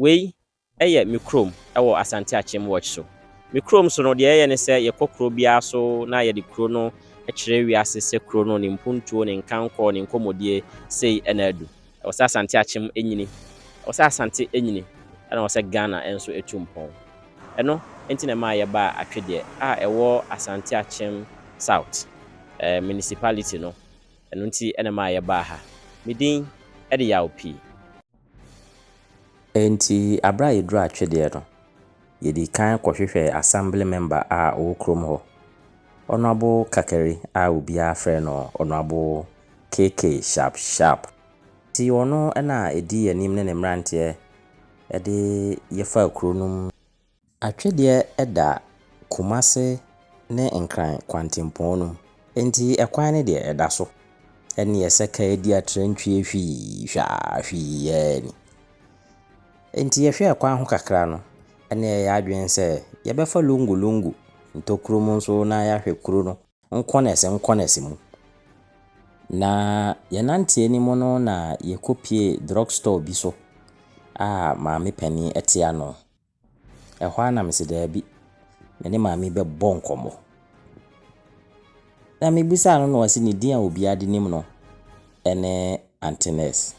Wei yɛ me kurom wɔ Asante Akyem Watch so. Me kurom so no, deɛ yɛyɛ ne sɛ yɛkɔ kuro biara so na yɛde kuro no kyerɛ wiase sɛ kuro no, ne mpuntuo, ne nkankɔɔ, ne nkɔmmɔdie, sei na adu. Ɛwɔ sɛ Asante Akyem nyini. Ɛwɔ sɛ Asante nyini. Ɛna ɛwɔ sɛ Ghana nso tu mpɔn. Ɛno nti na ɛmaa yɛbaa Atwedeɛ a ɛwɔ Asante Akyem South Municipality no. Ɛno nti na ɛmaa yɛbaa ha. Me din de Yaw Pii. Enti bere a yeduu atwedeɛ no, yedii kan kɔhwehwɛɛ Assembly Member a ɔwɔ kurom hɔ, Honourable Kakari a obiara frɛ no Honourable KK Sharp Sharp. Enti ɔno na ɛdii anim ne ne mmeranteɛ de yɛfaa kuro no mu. Atwedeɛ da Kumase ne Nkran kwantempɔn no mu, enti ɛkwan no deɛ ɛda so. Ɛnneɛ sɛ kaadi atrantwie hwii hwɛ a, hwii ara ni. Enti yɛhwɛɛ ɛkwan ho kakra no, ɛnna yɛyɛɛ adwene sɛ yɛbɛfa Lungu Lungu ntokuro mu nso na yɛahwɛ kuro no nkɔnɛse nkɔnɛse mu. Na yɛnante anim no na yɛkɔpuee drug store bi so a maame panin te ano. Ɛhɔ ara na mese daabi, me ne maame yi bɛbɔ nkɔmmɔ. Na mebisaa no na ɔse ne din a obiara de nim no ne Aunty Nurse.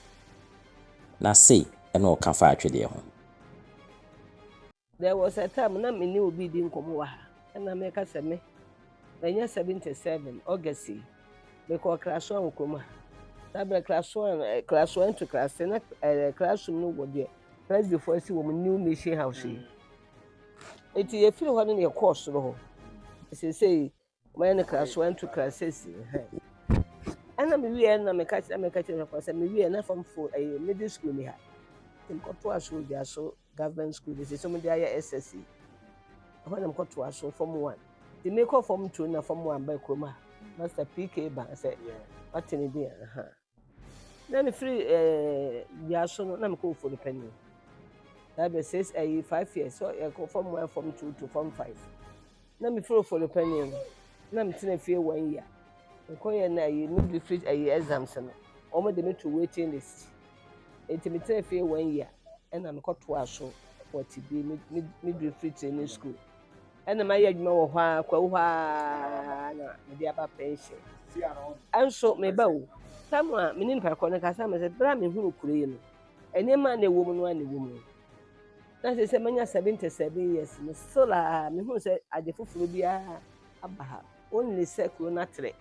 Na sei na ɔka faa atwedeɛ ho. There was a time na me ne obi redi nkɔmmɔ wɔ ha na meka sɛ me manya 77 August yi mekɔɔ Krasoa wɔ kurom ha. Saa berɛ Krasoa, Krasoa into Krase na Krasum no wɔ deɛ Presbyfoɔ asi wɔn New Mission House yi. Eti yɛfiri hɔ no na yɛkɔɔ soro hɔ. Seesei wɔayɛ no krasoa ntu krasesi. Ɛna mewie na meka kyerɛ meka kyerɛ nafo sɛ mewie na fam fo ɛyɛ middle school ni ha. Tim kɔto aso di aso government school de sɛ mo de ayɛ SSC. Ɛhɔ na mekɔto aso fam one. Ti mekɔ fam two na fam one ba kurom ha. Master PK ba sɛ wate ne din aha. Na mefiri ɛɛ dua so no na mekɔ ofuo no panyin na bɛ six ɛyi five years so ɛkɔ fam one fam two to fam five na mefiri ofuo no panyin no na metena fie one year nkɔ yɛ na ɛyi mi de firi ɛyi exams no wɔn de me to waiting list eti metena fie one year ɛna mekɔ to aso wɔ tibi mi mi mi de firi training school. Ɛna mayɛ adwuma wɔ hɔ ara kwawu hɔ ara na mede aba pension. Ɛnso meba o. Tam a me ne nipa kɔ no kasa me sɛ bere a mehunu kuro yi no, nneɛma a na ɛwɔ mu no ara na ɛwɔ mu. Na sɛ sɛ manya 77 years no still a mehunu sɛ ade foforɔ biara aba ha. Only sɛ kuro no atrɛ.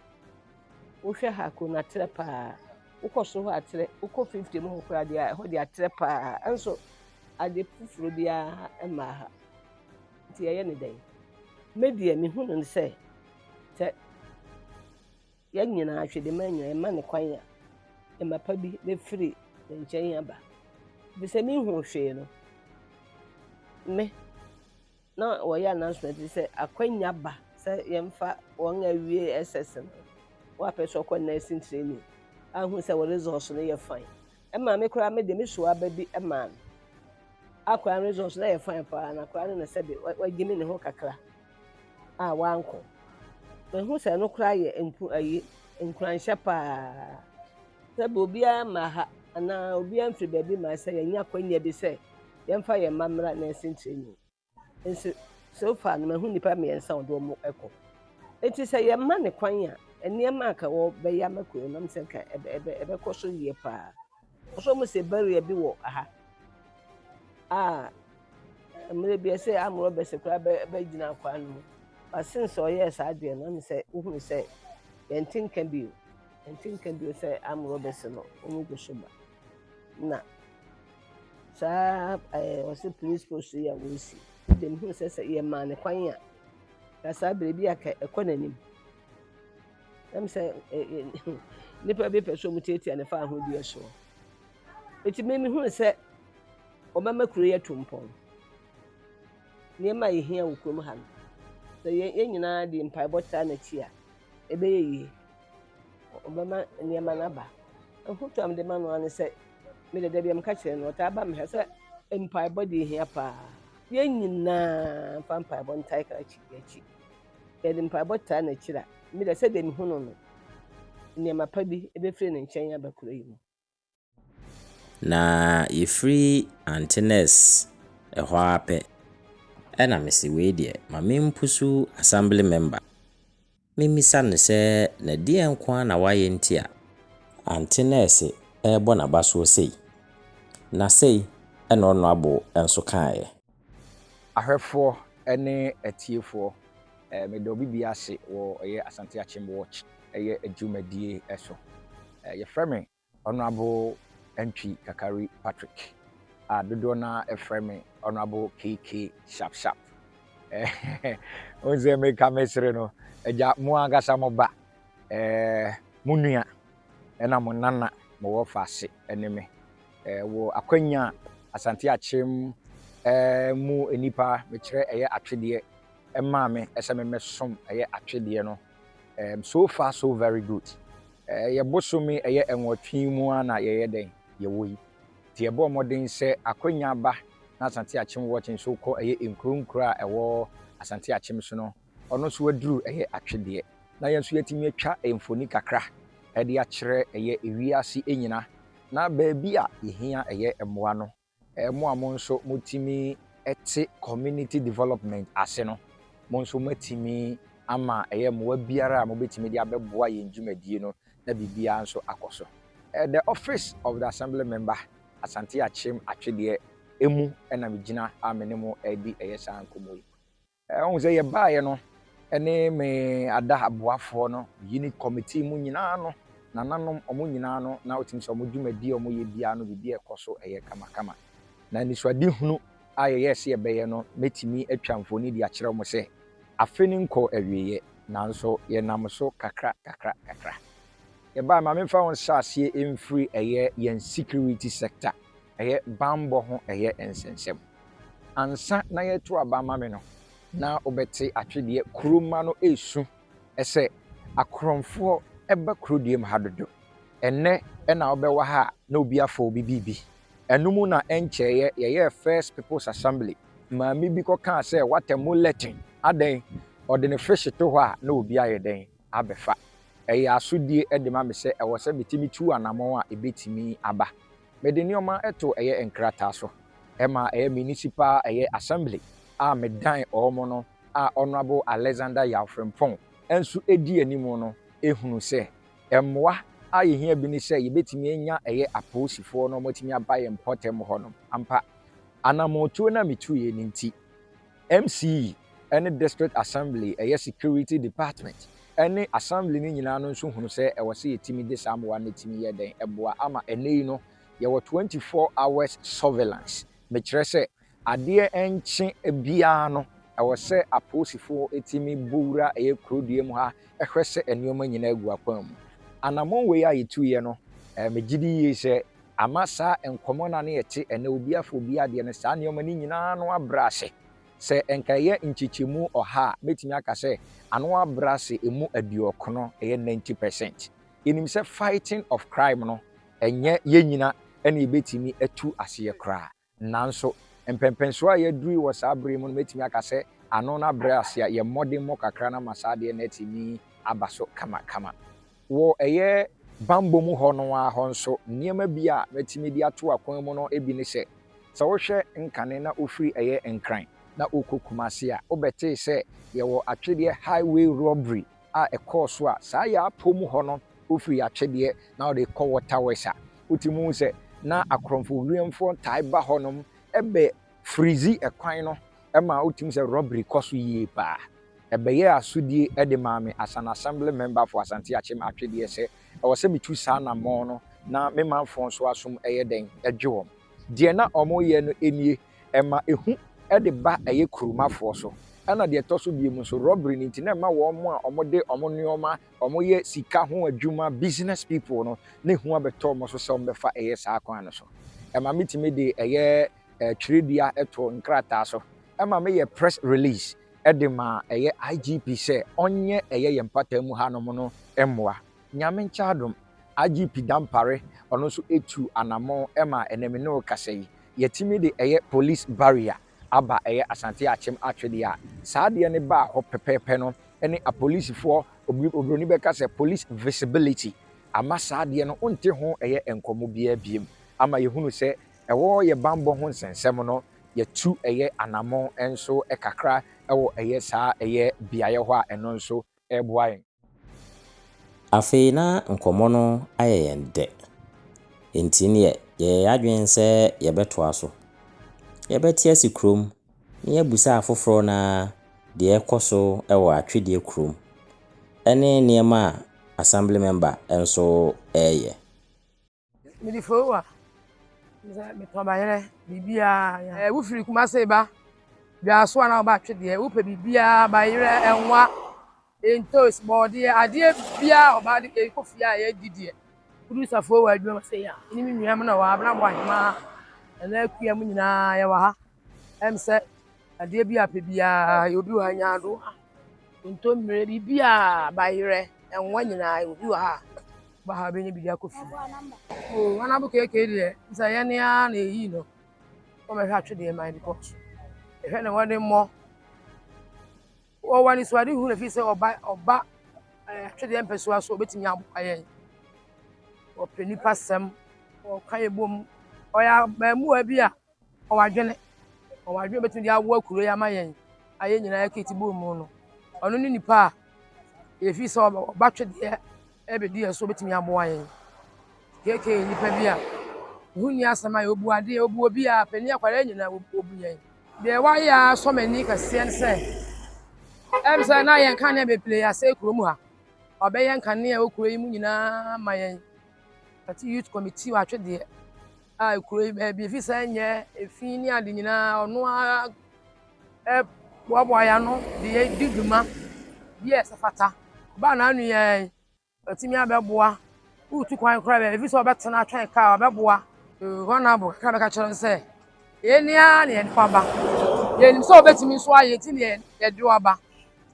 Wohwɛ ha kuro no atrɛ paa. Wokɔ so hɔ atrɛ, wokɔ 50 mu hɔ koraa deɛ ɛhɔ deɛ atrɛ paa. Ɛnso ade foforɔ biara mmaa ha. Nti yɛyɛ no dɛn? Me deɛ mehu no sɛ sɛ yɛn nyinaa Twidema nyinaa yɛma no kwan a ɛma pa bi bɛfiri ne nkyɛn aba bi sɛ mehu hwee no me na wɔyɛ announcement bi sɛ akwanya ba sɛ yɛmfa wɔn a awie SS no wɔapɛ sɛ ɔkɔ nursing training ahu sɛ wɔ results no yɛ fine Ɛmaa me koraa me de me soa ba bi maa no. Akwadaa no result na yɛ fine paa na akwadaa no na sɛbe wagyimi ne ho kakra a wankɔ. Mahu sɛ ɛno koraa yɛ nku ayi nkuranhyɛ paa. Sɛbe obiara mma ha anaa obiara mfiri baabi mma sɛ yɛnya kwanya bi sɛ yɛmfa yɛn mma mmra nursing training. Nso, so far no mahu nnipa mmiɛnsa a ɔde wɔn kɔ. Eti sɛ yɛma ne kwan a, nneɛma a ka wɔbɛyɛ ama kuro no, sɛ ka ɛbɛ ɛbɛ ɛbɛkɔ so yie paa. Ɔsɛ wɔn sɛ barrier bi wɔ ha a mmerɛ bi ɛsɛ arm robbers koraa bɛ bɛgyina akwan no mu. But since ɔyɛɛ saa deɛ no, ɛmu sɛ wohunu sɛ yɛnte nka bio, yɛnte nka bio sɛ arm robbers no wɔn gu so ba. na saa ɛɛ wɔsɛ police post yi a wɔresi no deɛ mehunu sɛ sɛ yɛmaa no kwan a na saa berɛ bi a anka ɛkɔ n'anim. Ɛm sɛ ɛ ɛ nnipa bi pɛ sɛ wɔtiatia no fa ahodeɛ soɔ. Eti me mehunu sɛ wɔbɛma kuro yi atu mpɔn. Nneɛma a yɛhia wɔ kurom ha no, sɛ yɛn yɛn nyinaa de mpaebɔ tra n'akyi a, ɛbɛyɛ yie. ɔbɛma nneɛma no aba. Afotu a mede ma no ara ne sɛ, me de da biara meka kyerɛ no, ɔtaa ba me ha sɛ mpaebɔ deɛ ɛhia pa ara. Yɛn nyinaa mfa mpaebɔ ntae krakye yɛn akyi. Yɛde mpaebɔ taa n'akyiri a, me de sɛdeɛ mehu no no, nneɛma pa bi bɛfiri ne nkyɛn aba kuro yi mu. Na yɛfiri Antinous hɔ ara pɛ, ɛna mese wei deɛ ma me mpusu Assembly Member, me mmisa no sɛ na deɛ nko ara na wayɛ nti a Antinous rebɔ n'abasoɔ sei? Na sei na ɔno abo nso kaeɛ. Ahwɛfoɔ ne atiefoɔ, meda obi biara ase wɔ ɛyɛ Asante Akyem Watch ɛyɛ dwumadie ɛso. Yɛfrɛ me Honourable Antwi Kakari Patrick a dodoɔ no ara ɛfrɛ me Honourable KK Sharp Sharp. Wohu sɛ meka me sere no, agya mo ankasa mo ba, mo nua ɛna mo nana mo wɔ faase ne me. wɔ akwanya Asante Akyem mu nnipa mekyerɛ ɛyɛ atwedeɛ ɛmaa me ɛsɛ me mɛsom ɛyɛ atwedeɛ no so far so very good ɛyɛ bosome ɛyɛ ɛnwɔtwe mu a na yɛyɛ dɛn yɛwɔ yi nti ɛbɔ mmɔden sɛ akwanya ba na Asante Akyem wɔkye nso kɔ ɛyɛ nkuro nkuro a ɛwɔ Asante Akyem so no Ɔno nso aduru yɛ atwedeɛ. Na yɛn nso yɛatumi atwa mfoni kakra de akyerɛ yɛ wiase nyina. Na baabi a yɛhia yɛ mmoa no, mo a mo nso motumi te community development ase no, mo nso moatumi ama yɛ mmoa biara a mobɛtumi de abɛboa yɛn dwumadie no na biribiara nso akɔ so. The office of the Assembly Member, Asante Akyem Atwedeɛ, mu na megyina a me ne mo redi yɛ saa nkɔmmɔ yi. Wohu sɛ yɛbaeɛ no, ɛne me ada aboafoɔ no, unit committee mu nyinaa no, nananom, wɔn nyinaa no, na wotumi sɛ wɔn dwumadie a wɔyɛ biara no, biribiara ɛkɔ so, ɛyɛ kamakama. Na anisoadehunu a yɛyɛɛ sɛ yɛbɛyɛ no, mɛtumi atwa mfoni de akyerɛ mo sɛ, afe no nkɔɔ awieeɛ, nanso yɛnam so kakra, kakra, kakra. Yɛbaeɛ, ma memfa wo nsaseɛ mfiri ɛyɛ yɛn security sector, ɛyɛ banbɔ ho ɛyɛ nsɛnsɛm. Ansa na yɛreto aba ama me no, na wobɛte atwedeɛ kuro mma no resu sɛ, Akorɔmfoɔ ba kuro deɛ mu ha dodo. Ɛnnɛ na wobɛwa ha a na obi afa obi biribi. Ɛno mu na ɛnkyɛeɛ yɛyɛɛ First People's Assembly. Maame bi kɔkaa sɛ, What a muletin! Adɛn? Ɔde ne fish to hɔ a na obi ayɛ dɛn? abɛfa. Ɛyɛ asodie de ma me sɛ ɛwɔ sɛ metumi tu anammɔn a ɛbɛtumi aba. Mede nneɛma too ɛyɛ nkrataa so ma ɛyɛ Municipal ɛyɛ Assembly a medan wɔn no a Honourable Alexander Yaw Frimpong nso di anim no hunu sɛ mmoa a yɛhia bi ne sɛ yɛbɛtumi anya ɛyɛ apolisifoɔ na wɔatumi aba yɛn mpɔtam hɔnom ampa. Anammɔntuo no a metuiɛ no nti. MCE ne District Assembly ɛyɛ Security Department ne Assembly no nyinaa no nso hunu sɛ ɛwɔ sɛ yɛtumi de saa mmoa no tumi yɛ dɛn boa ama ɛnnɛ yi no yɛwɔ 24 hours surveillance mekyerɛ sɛ adeɛ nkye biara no ɛwɔ sɛ apolisifoɔ tumi bɔ wura ɛyɛ kurodua mu ha hwɛ sɛ nneɛma nyinaa gu akwan mu. Anammɔn wei a yɛtuiɛ no, megye di yie sɛ Ama saa nkɔmmɔ no a na ɛte ɛnnɛ obi afa obi adeɛ no, saa nneɛma no nyina ara ano abrɛ ase. Sɛ nka ɛyɛ nkyekyɛmu ɔha a, mɛtumi aka sɛ ano abrɛ ase ɛmu aduɔkron, ɛyɛ ninety percent. Yɛnim sɛ fighting of crime no, ɛnyɛ yɛn nyina na yɛbɛtumi atu aseɛ koraa. Nanso, mpɛnpɛnsoɔ a yɛaduru yi wɔ saa berɛ yi mu no, mɛtumi aka sɛ ano no abrɛ ase a yɛn mmɔdemmɔ kakra no ama saa adeɛ no atumi aba so kamakama. Wɔ ɛyɛ bammɔ mu hɔ no ara hɔ nso, nneɛma bi a mɛtumi de ato akwan mu no bi ne sɛ, sɛ wohwɛ nkane na wofiri ɛyɛ Nkran na wokɔ Kumasi a, wobɛtee sɛ yɛwɔ atwedeɛ highway robbery a ɛkɔɔ so a saa yɛ apɔ mu hɔ no ofiri Atwedeɛ na ɔde kɔ Waterworks a wotumi hu sɛ na akorɔmfo wiemfoɔ taa ba hɔnom bɛ firizi kwan no ma wotumi sɛ robbery kɔ so yie paa. Ɛbɛyɛɛ asodie de maa me as an Assembly Member for Asante Akyem Atwedeɛ sɛ ɛwɔ sɛ metu saa anammɔn no na me manfoɔ nso asom yɛ dɛn dwe wɔn. Deɛ na wɔyɛ no nie. Ɛma ehu de ba ɛyɛ kuromafoɔ so. Ɛna deɛ ɛtɔ so biom nso robbery no nti na ɛma wɔn a wɔde wɔn nnoɔma, wɔyɛ sika ho adwuma, business people no, na ehu abɛtɔ wɔn so sɛ wɔbɛfa ɛyɛ saa kwan no so. Ɛma me tumi de ɛyɛ twerɛdua to nkrataa so. Ɛma me yɛ press release de ma ɛyɛ IGP sɛ ɔnyɛ ɛyɛ yɛn mpata mu ha nom no mmoa. Nyame nkyɛ adom, IGP Dampare ɔno nso atu anamɔn ma ɛnɛ me ne wo kasa yi. yɛtumi de ɛyɛ police barrier aba ɛyɛ Asante Akyem atwedeɛ a, saa adeɛ no baa hɔ pɛpɛɛpɛ no ne apolisifoɔ, obroni bɛka sɛ police visibility, ama saa adeɛ no wonte ho ɛyɛ nkɔmmɔ biara biom, ama yɛhunu sɛ ɛwɔ yɛ bammɔ ho nsɛnsɛm no yɛtu ɛyɛ anammɔn nso kakra wɔ ɛyɛ saa ɛyɛ beaeɛ hɔ a ɛno nso ɛreboa yɛn. Afei na nkɔmmɔ no ayɛ yɛn dɛ, enti neɛ yɛyɛɛ yɛn adwene sɛ yɛbɛtoa so. Yɛbɛte ase kurom na yɛabisa afoforɔ no ara deɛ ɛrekɔ so wɔ atwedeɛ kurom ne nneɛma a Assembly Member nso reyɛ. mede foowa sɛ metɔ bayerɛ biribiaa eh, wofiri kuma se ba dwaaso a na woba atwedeɛ wopɛ biribiaa bayerɛ ɛnwa ntos bɔɔdeɛ adeɛ biaa ɔbaa de ɛkɔ fie a yɛdi deɛ wodu sa foowa adwuma sɛ ya ne me nuam na wɔ abena bɔ ahemaa ɛna akua mu nyinaa yɛwɔ ha Ɛm sɛ adeɛ bi a pɛ biara yɛ obi wɔ ha nya ado a ntommire biribi a bayerɛ ɛnwa nyinaa obi wɔ ha ba ha bɛnya biribi akɔ fie o hanabo keke deɛ sɛ yɛ ne ara na ɛyi no wɔmɛhwɛ atwe deɛ man bi kɔ ɛhwɛ na wɔde mmɔ wɔwɔ anisoade hu na fi sɛ ɔba ɔba atwedeɛ mpɛsoa so ɔbɛtumi aboa yɛn wɔpɛ nipa sɛm wɔka yɛ bom ɔyɛ abɛɛmoa bi a Ɔwɔ adwene. Ɔwɔ adwene a obetumi de awoa kuro yi ama yɛn a yɛn nyinaa yɛkete bɔ mu no. Ɔno ne nipa a yɛfii sɛ ɔba twedeɛ ɛbɛdi yɛn so obetumi aboa yɛn. KK yɛ nipa bi a ɛho nni asɛm ayɛ obu adeɛ obu obiara panin akwadaa nyinaa obu yɛn. Deɛ wayɛ ara sɔ m'ani kɛseɛ ne sɛ ɛm sɛ na yɛn kanea bebree asɛe kurom ha. Ɔbɛyɛ nkanea wɔ kuro yi mu nyinaa ma yɛn. Ɔte youth committee wɔ atwedeɛ. a kuro yi baabi ɛfiri sɛ nyɛ efi ne ade nyinaa ɔno ara ɛboaboa yɛn ano de yɛ di dwuma bi a ɛsɛ fata ɔbaa na anu yɛn ɔtumi abɛboa wotu kwan koraa baabi ɛfiri sɛ ɔbɛtena atwɛn kaa ɔbɛboa hɔ na abo kakra bɛka kyerɛ no sɛ yɛn ni ara na yɛde aba yɛn nim sɛ ɔbɛtumi nso ayɛ ti na yɛde aba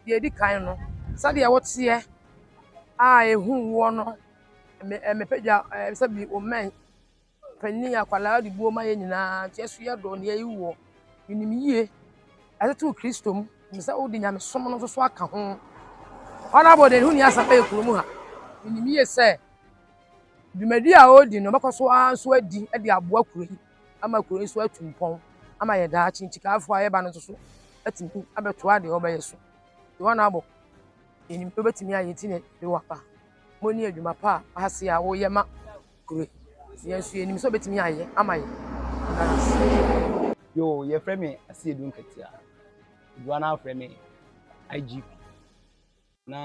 deɛ edi kan no sɛdeɛ wɔteɛ a ehu woɔ no ɛmɛpɛgya ɛsɛ bi omɛn. Panin, akwadaa de buo ma yɛn nyinaa, nti yɛ nso yɛ dɔ na yɛyi woɔ. Menim yie, yɛatoto Kristo mu, menim sɛ wode nyamesom no nso aka ho. Honourable deɛ ne ho ni asɛm ɛyɛ kurom ha, menim yie sɛ dwumadi a ɔredi no ɔbɛkɔ so ara nso adi de aboa kuro yi ama kuro yi nso atu mpɔn ama yɛ daakye nti kaafoɔ a yɛba no nso so atumi abɛtoa deɛ ɔbɛyɛ so. Honourable yɛnim sɛ wobɛtumi ayɛ nti na yɛde wo aba. Mo ne adwuma pa a ɔhaseɛ a woyɛ ma Kure. Yɛn nso yɛnim sɛ ɔbɛtumi ayɛ ama yɛn. Yɛda no ase. Yoo yɛfrɛ me Asiedu Nketea. Dodoɔ no ara frɛ me IGP. Na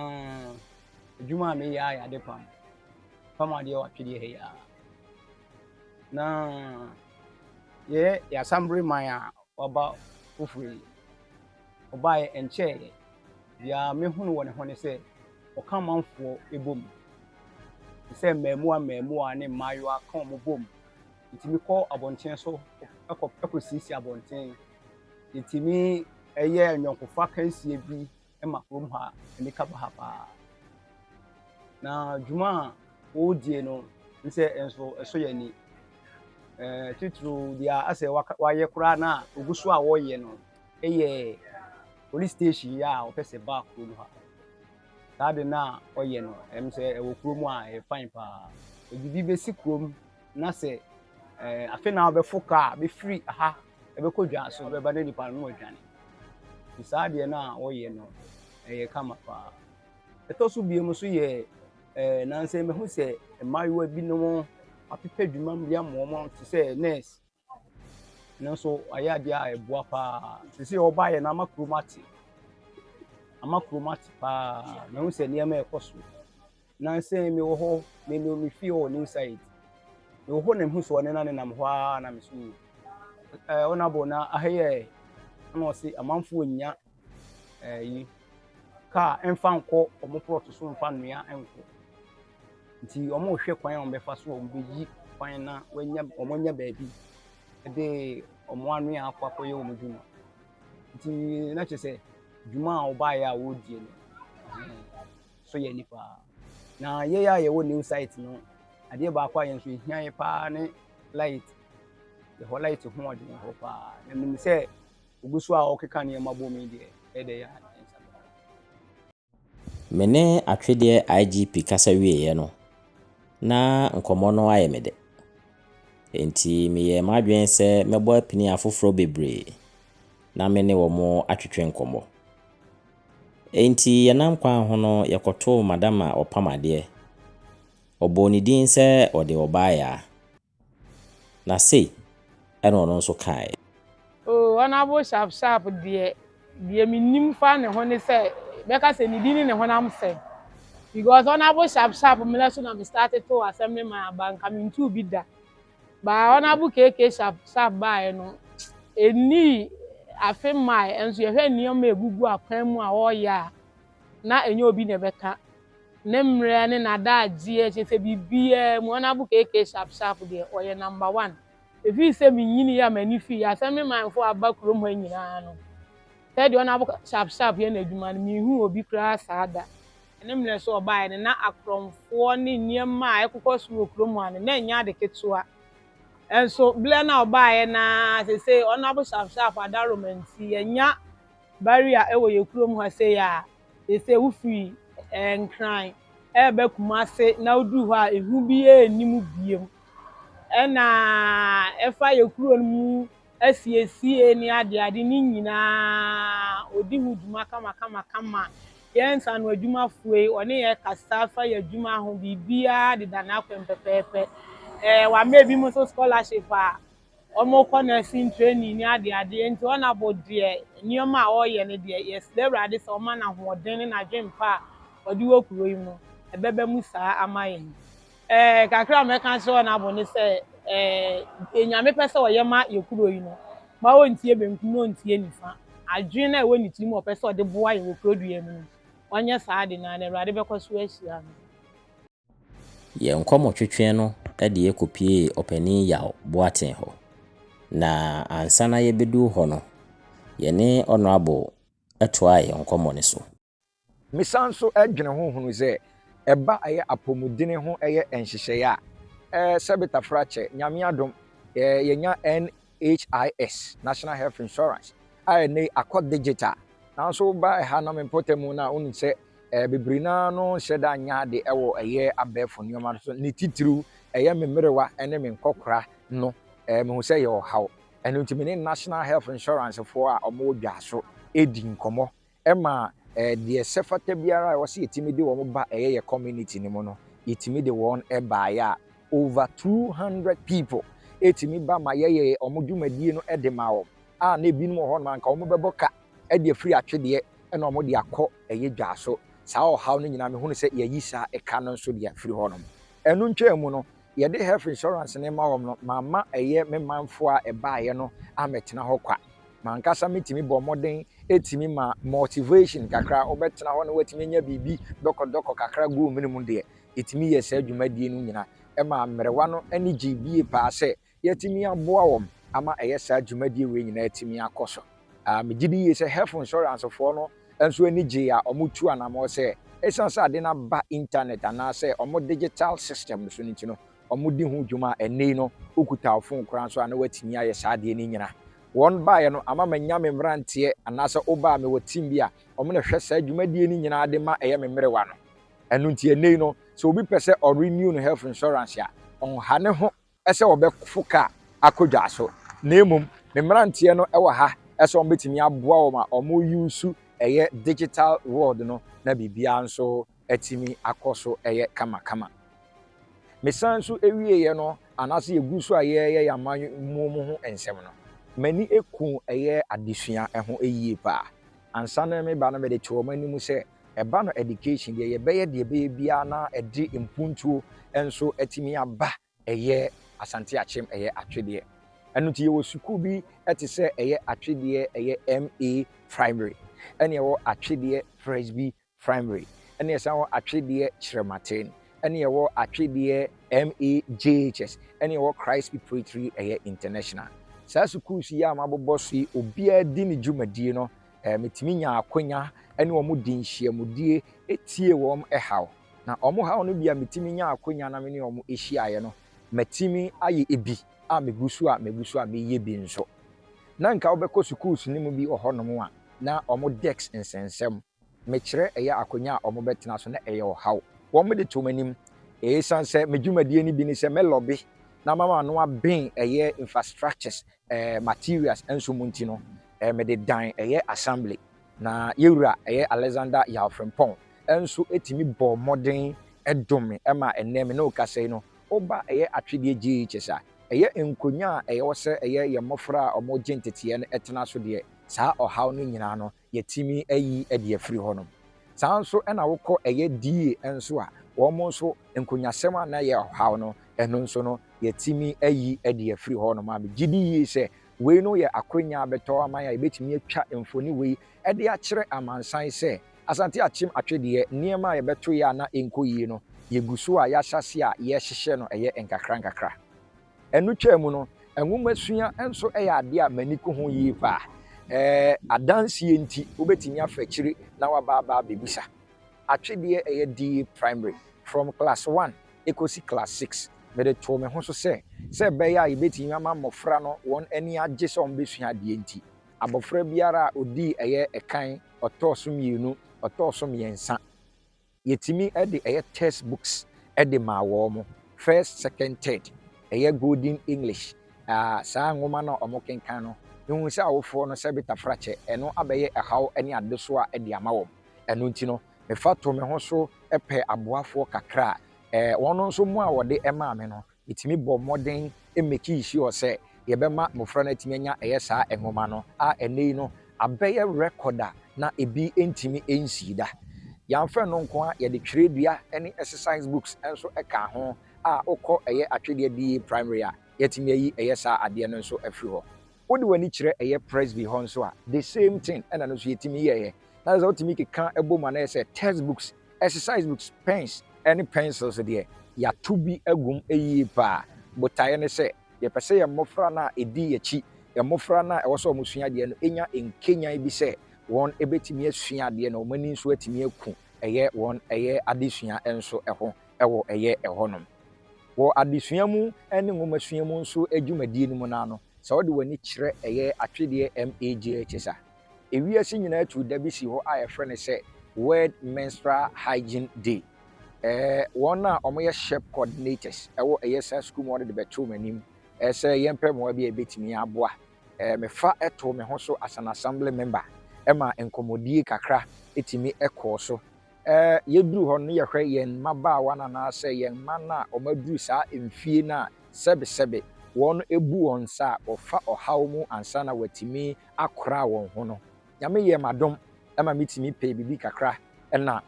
adwuma a meyɛ ara yɛ ade pam. Pam adeɛ wɔ atwedeɛ ha yi ara. Na yɛyɛ yɛn Asambere man a wɔaba foforo yi. Ɔbaeɛ ɛnkyɛeɛ biara mehunu wɔ ne ho ne sɛ ɔka manfoɔ bom te sɛ mmaamuwa mmaamuwa ne mmaayewa ka wɔn bom. Yɛtumi kɔ abɔnten so kɔ kɔsiesie abɔnten. Yɛtumi yɛ nnwɔnkofa kansie bi ma kurom ha, ani ka ba ha paa. Na dwuma a wɔredie no nsɛ nso ɛsɔ yɛn ani. Ɛɛ titiriw deɛ asɛ wayɛ koraa na ogu so a wɔreyɛ no Eyɛ police station yi a ɔpɛ sɛ ba kuro mu ha. Saa de no a ɔyɛ no, ɛm sɛ ɛwɔ kuro mu a ɛyɛ fine paa. Ɔde bi bɛsi kuro mu na sɛ ɛɛ afe na ɔbɛfo kaa bɛfiri ha ɛbɛkɔ dwa so bɛba na nipa no adwane. Nti saa deɛ no a ɔyɛ no ɛyɛ kama paa. Ɛtɔ so biom nso yɛ ɛɛ nansɛ mɛhu sɛ mmaayewa binom apepɛ adwuma bi ama wɔn te sɛ nurse. nanso wayɛ adeɛ a ɛboa paa sisi a ɔbaeɛ no ama kurom ate ama kurom ate paa na ɛho sɛ nneɛma ɛkɔ so nansa yi mewɔ hɔ me ne me fie wɔ new site mewɔ hɔ na mehu sɛ ɔne na ne nam hɔ ara na me so ɛɛ ɔnabɔ na ahɛyɛ ɛna ɔse amanfoɔ nya ɛyi kaa mfa nkɔ wɔn plɔt so mfa nnua nkɔ nti wɔrehwɛ kwan a wɔbɛfa so a wɔbɛyi kwan na wɔanya wɔanya baabi de wɔn anwea akɔ akɔyɛ wɔn adwuma nti na kyerɛ sɛ dwuma a wɔbaeɛ a wɔredie no so yɛ nipa na yɛyɛ a yɛwɔ new site no adeɛ baako a yɛn nso ɛhia yɛ paa ne light yɛhɔ light ho ɔden hɔ paa na nim sɛ Ogu so a ɔkeka nneɛma bom yi deɛ ɛdɛ yi a yɛn nsa bɛka no. Me ne Atwedeɛ IGP kasa wieeɛ no, na nkɔmmɔ no ayɛ me dɛ. Enti meyɛɛ m'adwene sɛ mɛbɔ apini afoforɔ bebree na me ne wɔn atwetwe nkɔmmɔ. Enti yɛnam kwan ho no yɛkɔtoo Madam a ɔpam adeɛ, ɔbɔɔ ne din sɛ ɔde ɔbaa yaa. Na sei na ɔno nso kaeɛ. Oh, Honourable Sharp Sharp deɛ, deɛ menim fa ne ho ne sɛ, bɛka sɛ ne din ne ne honam fɛ. Because Honourable Sharp Sharp mmerɛ so na me starte too Assemblyman aba, anka mentuu bi da. But Honourable KK Sharp Sharp baeɛ no, ɛnnii afe mmaeɛ, nso yɛhwɛ nneɛma a ɛgugu akwan mu a ɔreyɛ a, na ɛnyɛ obi na ɛbɛka ne mmerɛ ne n'adagyeɛ kyerɛ sɛ biribiara mu ɔnabu KK sharp sharp deɛ ɔyɛ number one ɛfiri sɛ menyiniiɛ a m'ani fii asɛ me manfoɔ aba kurom ha nyinaa no sɛdeɛ ɔnabu sharp sharp yɛ n'adwuma no menhuu obi koraa saa da. Ne mmerɛ so ɔbaeɛ no na akorɔmfoɔ ne nneɛma a ɛkokɔ so wɔ kurom ha no na ɛnyɛ ade ketewa nso berɛ no a ɔbaeɛ no ara sesei ɔnabu sharp sharp adaroma nti yɛnya Barrier wɔ yɛn kurom ha sei a, seesei wofiri Nkran reba Kumase na woduru hɔ a, ehu biara nni mu bio. Ɛna ɛfa yɛn kuro no mu asiesie ne adeade ne nyinaa, ɔdi ho dwuma kamakamakama. Yɛn nsano adwumafoɔ yi, ɔne yɛn kasa fa yɛn adwuma ho, biribiara deda n'akwan mu pɛpɛɛpɛ. Ɛɛ wama ebinom nso scholarship a. Wɔkɔ nursing training ne adeade nti Honourable deɛ nneɛma a ɔreyɛ no deɛ yɛsrɛ Awurade sɛ ɔmma no ahoɔden ne n'adwempa a ɔde wɔ kuro yi mu ɛbɛba mu saa ama yɛn. Ɛɛ kakra a mɛka akyerɛ Honourable ne sɛ ɛɛ deɛ Nyame pɛ sɛ ɔyɛ ma yɛ kuro yi no ma ɔntie benkum na ɔntie nifa. Adwene a ɛwɔ ne tiri mu a ɔpɛ sɛ ɔde boa yɛn wɔ kurodua yi mu no ɔnyɛ saa ade no ara na Awurade bɛkɔ so ahyira no. Yɛn nkɔmɔtwetweɛ no de yɛ kɔpiee Ɔpanin Yaw Boateng hɔ, na ansa na yɛbɛduru hɔ no, yɛne Honourable toaa yɛn nkɔmɔ no so. Mesan nso dwene ho hunu sɛ ɛba ɛyɛ apɔmudene ho ɛyɛ nhyehyɛeɛ a, sɛbetafrakyɛ, Nyame adom, yɛnya NHIS, National Health Insurance, a ɛnnɛ yi akɔ digital. Nanso woba ɛha na me mpɔtam no a, wohu sɛ bebree no ara no nhyɛ da nyɛ ade wɔ ɛyɛ abɛɛfo nneɛma no so, ne titiriw ɛyɛ me mmerewa ne me nkɔkora no. Mihu sɛ ɛyɛ ɔhaw. Ɛno nti me ne National Health Insurance foɔ a wɔwɔ Dwaso di nkɔmmɔ Ɛma deɛ sɛ fata biara a ɛwɔ sɛ yɛtumi de wɔn ba ɛyɛ yɛ community no mu no, yɛtumi de wɔn baeɛ a over 200 people ɛtumi ba ma yɛyɛɛ wɔn dwumadie no de maa wɔn a na ebinom wɔ hɔ nom a nka wɔn bɛbɔ ka de afiri atwedeɛ na wɔn de akɔ ɛyɛ dwa so. Saa ɔhaw no nyinaa mehunu sɛ yɛayi saa ɛka no nso deɛ afiri hɔ nom. Ɛno ntwaa mu no, Yɛde health insurance no ma wɔn no, mamma ɛyɛ me manfo a ɛbaeɛ no ammɛtena hɔ kwa. M'ankasa metumi bɔɔ mmɔden tumi ma motivation kakra, wobɛtena hɔ na woatumi anya biribi dɔkɔdɔkɔ kakra guu mene mu deɛ, yɛtumi yɛɛ saa dwumadie no nyina. Ɛmaa mmerewa no ani gyee bie paa sɛ yɛatumi aboa wɔn ama ɛyɛ saa dwumadie wei nyinaa atumi akɔ so. Megye di yie sɛ health insurance foɔ no nso ani gyee a wɔtuu anammɔn sɛ esiane sɛ ade no aba Intanɛt anaasɛ wɔn digital systems so no nti no, wɔdi ho dwuma a ɛnnɛ yi no wokuta wo fon koraa nso a na wɔatumi ayɛ saa adeɛ no nyina. Wɔn baeɛ no ama manya me mmeranteɛ anaasɛ woba a mewɔ team bi a wɔn na ɛhwɛ saa dwumadie no nyinaa de ma ɛyɛ me mmerewa no. Ɛno nti ɛnnɛ yi no sɛ obi pɛ sɛ ɔ renew ne health insurance a, ɔnha ne ho sɛ wɔbɛfo kar akɔ dwa so, na mmom me mmeranteɛ no wɔ ha sɛ wɔbɛtumi aboa wɔn ma wɔn use ɛyɛ digital world no na biribiara nso atumi akɔ so yɛ kamakama. Me san nso wieɛ no anaasɛ yɛgu so a yɛreyɛ yɛn amammuo mu ho nsɛm no, m'ani kuu ɛyɛ adesua ho yie paa. Ansa na me ba no mede too wɔn anim sɛ ɛba no education deɛ yɛbɛyɛ deɛ ɛbɛyɛ biara na ɛde mpuntuo nso atumi aba ɛyɛ Asante Akyem ɛyɛ atwedeɛ ɛno nti yɛwɔ sukuu bi ɛte sɛ ɛyɛ atwedeɛ ɛyɛ MA primary ɛne ɛwɔ atwedeɛ Presby primary ɛne ɛsan wɔ atwedeɛ Kyerɛmaten ɛne ɛwɔ atwedeɛ MA JHS ɛne ɛwɔ Christ Preparatory ɛyɛ international saa sukuus yi a mabobɔ so yi obiara di ne dwumadie no eh, metumi nyaa akwanya ne wɔn di nhyiamudie tie wɔn haw. Na wɔn haw no bi a metumi nyaa akwanya na me ne wɔn hyiaeɛ no, matumi ayɛ ebi a megu so a megu so a meyɛ bi nso. Na nka wobɛkɔ sukuus no mu bi wɔ hɔnom a, na wɔn desk nsɛnsɛm. Mekyerɛ ɛyɛ akwanya a wɔbɛtena so na ɛyɛ ɔhaw. Wɔde too m'anim. Ɛsiane sɛ me dwumadie no bi ne sɛ mɛlɔbe na mama ano aben ɛyɛ infrastructures eh, materials nso mu nti no, eh, mede dan ɛyɛ assembly. Na yɛ wura ɛyɛ Alexander Yaw Frimpong nso tumi bɔɔ mmɔden dom me ma ɛnnɛ me ne wo kasa yi no, woba ɛyɛ Atwedeɛ JHS a, ɛyɛ nkonnwa a ɛwɔ sɛ ɛyɛ yɛn mmɔfra a wɔregye nteteɛ no tena so deɛ, saa ɔhaw no nyinaa no, yɛtumi ayi adi afiri hɔ no. Saa ara nso na wokɔ ɛyɛ die nso a, wɔn nso nkunyasɛm a na ɛyɛ ɔhaw no, ɛno nso no yɛtumi ayi adi afiri hɔ nom. A Megye di yie sɛ wei no yɛ akwanya a bɛtɔ ama yɛn a yɛbɛtumi atwa mfoni wei de akyerɛ amansan sɛ Asante akyem atwe deɛ nneɛma a yɛbɛto yɛ a na ɛnkɔ yie no, yɛgu so a yɛahyɛ aseɛ a yɛrehyehyɛ no ɛyɛ nkakra nkakra. Ɛno twaa mu no, nwomasua nso yɛ adeɛ a m'ani ku ho yie pa ara. Adanseɛ nti, wobɛtumi afa akyire na woaba aba abɛbisa. Atwedeɛ a ɛyɛ DA Primary, from class one kɔsi class six, mede too me ho so sɛ, sɛ ɛbɛyɛ a yɛbɛtumi ama mmɔfra no wɔn ani agye sɛ wɔbɛsua adeɛ nti, abɔfra biara a ɔdii ɛyɛ ɛkan, ɔtɔɔ so mmienu, ɔtɔɔ so mmiɛnsa. Yɛtumi de ɛyɛ text books de maa wɔn, first, second, third, ɛyɛ Golden English, ah, saa nwoma no a wɔkenkan no, mehu sɛ awofoɔ no sɛ betafrakyɛ, ɛno abɛyɛ ɛhaw ne adesoa de ama wɔn. Ɛno nti no, mefa to me ho so pɛ aboafoɔ kakra a, eh, wɔn nso mmoa a wɔde maa me no, Yɛtumi bɔɔ mmɔden mekii sure sɛ yɛbɛma mmofra no atumi anya ɛyɛ saa nwoma no, a ɛnnɛ yi no abɛyɛ record a na ebi ntumi nsii da. Yɛamfa ɛno nko ara, yɛde twerɛdua ne exercise books nso kaa ho, a wokɔ ɛyɛ Atwedeɛ BA Primary a, yɛatumi ayi ɛyɛ saa adeɛ no nso afiri hɔ. Wode w'ani kyerɛ ɛyɛ Presby hɔ nso a, the same thing ɛna no nso yɛtumi yɛeɛ. Na kyerɛ sɛ wotumi keka bom a na ɛyɛ sɛ test books, exercise books, pens ne pencils deɛ, yɛato bi agu mu yie pa ara. Botaeɛ ne sɛ yɛpɛ sɛ yɛn mmɔfra no a ɛdi yɛn akyi, yɛn mmɔfra no a ɛwɔ sɛ wɔsua adeɛ no nya nkanyan bi sɛ wɔbɛtumi asua adeɛ na wɔn ani nso atumi aku ɛyɛ wɔn ɛyɛ adesua nso ho. wɔ ɛyɛ hɔnom. Wɔ adesua mu ne nwomasua mu nso dwumadie no mu no ara no, sɛ wode w'ani kyerɛ ɛyɛ atwedeɛ MAGHS a, ewiase nyinaa tu da bi si hɔ a yɛfrɛ no sɛ World Menstrual Hygiene Day. Ɛɛ, wɔn a wɔyɛ SHEP coordinators wɔ ɛyɛ saa sukuu mu no de bɛtoo m'anim sɛ yɛmpɛ mmoa bi a yɛbɛtumi aboa. Ɛɛ, mefa too me ho so as an assembly member ma nkɔmmɔdie kakra tumi kɔɔ so. Ɛɛ, yeduru hɔ no yɛhwɛ yɛn mmabaawa no anaasɛ yɛn mma no a wɔaduru saa mfie no a sɛbesɛbe wɔabu wɔn nsa a wɔfa ɔhaw mu ansa na wɔatumi akora wɔn ho no. Nyame yɛɛ me adom ma mitumi pɛɛ biribi kakra na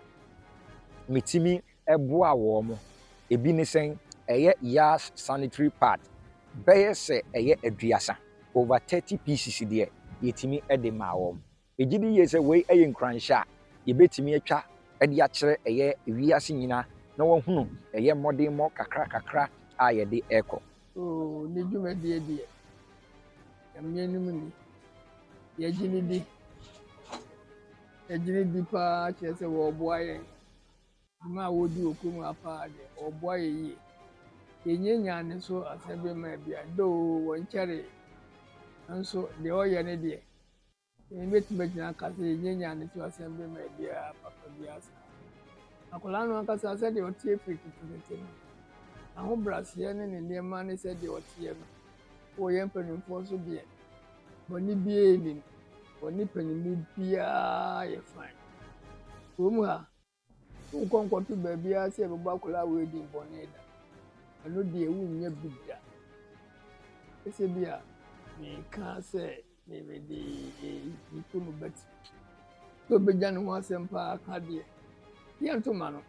mitumi boaa wɔn. Ebi ne sɛn? Ɛyɛ Yas sanitary pad bɛyɛ sɛ ɛyɛ aduasa, over thirty pieces deɛ, yetumi de maa wɔn. Yegye di yiye sɛ wei yɛ nkuranhyɛ a yebetumi atwa de akyerɛ ɛyɛ wiase nyinaa na wɔahunu ɛyɛ mmɔdenmmɔ kakrakakra a yɛde rekɔ. Oo, ne dwumadie deɛ ɛmmeanim ni. Yɛgye no di. Yɛgye no di pa ara kyerɛ sɛ wɔreboa yɛn. Dwuma a wɔredi wɔ kurom ha pa ara deɛ, wɔreboa yɛn yie. Yɛnnyannyaa ne so asɛm bi mmaa biara, though wɔnkyɛree, nanso deɛ wɔreyɛ no deɛ, Yɛn bɛtumi agyina aka sɛ yɛnnya nyaa ne so asɛmde ma ɛdeɛa papa biara saa. Akwadaa no ankasa sɛdeɛ ɔteɛ firi ketekete no, n'ahobraseɛ ne ne nneɛma ne sɛdeɛ ɔteɛ no, wɔ yɛn mpanimfoɔ so deɛ, bɔne biara nnim. Wɔne paninmu biara yɛ fine. Kurom ha, Wonkɔ nkɔto baabiara sɛ yɛbɛbɔ akwadaa wedding bɔne da. Ɛno deɛ wonnya bi da. Ɛsɛ bi a meka sɛ mede nnipa mu bɛte. Sɛ obɛgya ne ho asɛm paa ka deɛ, yɛnto ma no.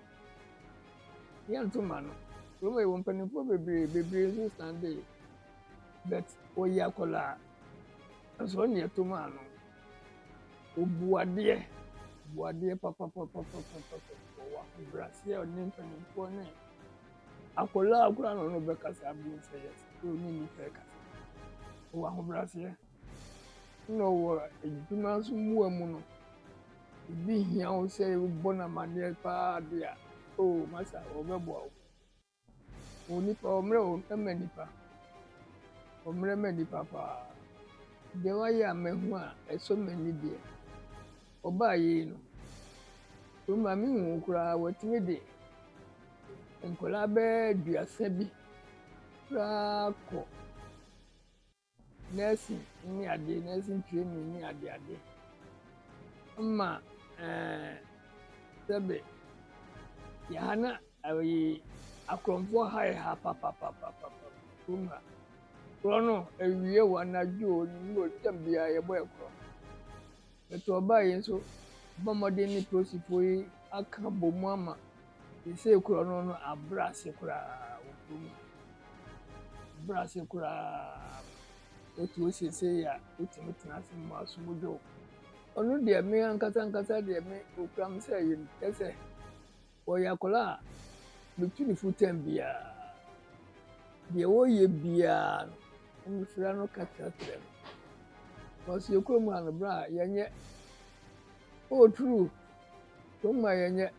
Yɛnto ma no. Kurom yɛwɔ mpanimfoɔ bebree, bebree nso sane de. But ɔyɛ akwadaa. Nanso ɔne ɛto maa no, obu adeɛ, bu adeɛ papapapapapapa wɔ w'ahobrɛaseɛ a ɔne mpanimfoɔ ne akwadaa a koraa na ɔno bɛkasa abom sɛ yɛ sɛ ɔne nnipa ɛkasa. Ɔwɔ ahobrɛaseɛ na ɔwɔ adwuma nso mua mu no, ebi hia wo sɛ wobɔ no amanneɛ paa de a, oo masa wɔbɛboa wo. O nnipa, ɔmmerɛ o mma nnipa, ɔmmerɛ mma nnipa paa. Deɛ wayɛ a mahu a ɛsɔ m'ani deɛ, ɔbaa yei no. Kurom ha menhuu koraa wɔatumi de nkwadaa bɛyɛ aduasa bi koraa kɔ. nursing ne ade, nursing training ne ade ade. Ɛma ɛɛ sɛbe yɛ ha na ɛyi akorɔmfoɔ ha yɛ ha papapapapa kurom ha. Korɔ no awie wɔ anadwo wɔ nwummerɛ wɔ tam biara yɛbɔ yɛ korɔ. Bɛto ɔbaa yi nso bɔ mmɔden ne polisifo yi aka abɔ mu ama seesei kuro no no abrɛ ase koraa wɔ kuro mu ha. Abrɛ ase koraa ma wotu wo seesei a wotumi tena ase mu asom dwo. Ɔno deɛ me ankasa ankasa deɛ me okura me sɛ yɛ sɛ Ɔyɛ akwadaa a metu no fo tɛm biara. Deɛ ɔreyɛ biara no, mesrɛ no ka kyerɛkyerɛ no. Because yɛ kurom ha no, bra yɛnyɛ. Oh true, kurom ha yɛnyɛ.